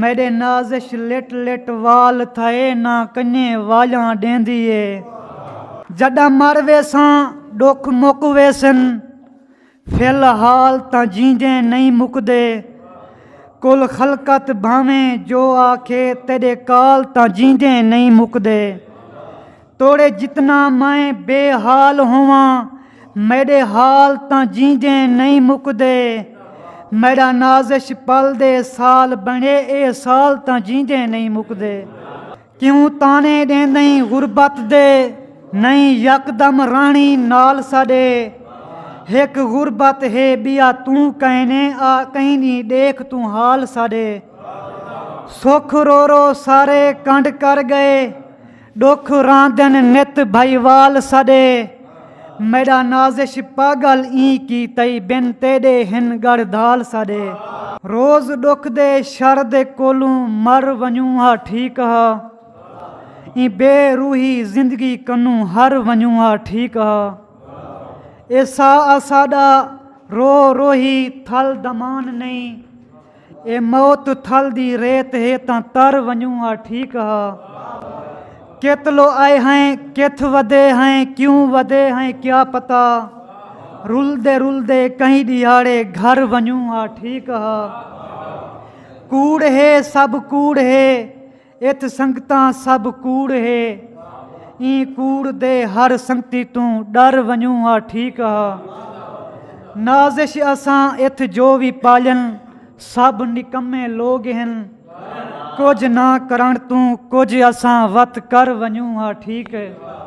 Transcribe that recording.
میݙے نازش لٹ لٹ وال تھئے نہ کنڄے والیاں ݙیندی اے جݙاں مر ویساں ݙکھ مک ویسن فی الحال تاں جیندے نئیں مکدے کل خلقت بھانویں جو آکھے تیݙے کال تاں جیندے نئیں مکدے توڑے جتنا میں بے حال ہوواں میڈے حال تاں جیندیں نئیں مکدے میڈا نازش پل دے سال بنڑے اے سال تاں جیندیں نئیں مکدے کیوں تانے ڈیندئیں غربت دے نئیں یک دم رہنڑیں نال ساڈے ہک غربت ہے بیا توں کہنے آ کہیں دی ڈیکھ توں حال ساڈے سکھ رو رو سارے کنڈ کر گئے ݙکھ راندن نت بھائیوال سݙے۔ میݙا نازش پاڳل ایں کی تئی بن تیݙے ہن ڳڑھ دھال سݙے۔ روز ݙکھ دے شر دے کولوں مر ونڄوں ہا ٹھیک ہا ایں بے روحی زندگی کنوں ہر ونڄوں ہا ٹھیک ہا اے ساہ آساݙا رو روہی تھل دمان نئیں اے موت تھل دی ریت ہے تاں تر ونجوں ہا ٹھیک ہا کت لو آئے ہیں کتھ ودے ہیں کیوں ودے ہیں کیا پتا رلدے رلدے کہیں ڈیہاڑے گھر ونجوں ہا ٹھیک ہا کوڑ ہے سب کوڑ ہے اتھ سنگتاں سبھ کوڑ ہے ایں کوڑ دے ہر سنگتی توں ڈر ونجوں ہا ٹھیک ہا نازش اساں اتھ جو وی پالن سبھ نکمے لوگ ہن کجھ نہ کرنڑ توں کجھ اساں وت کر ونجوں ہا ٹھیک ہے۔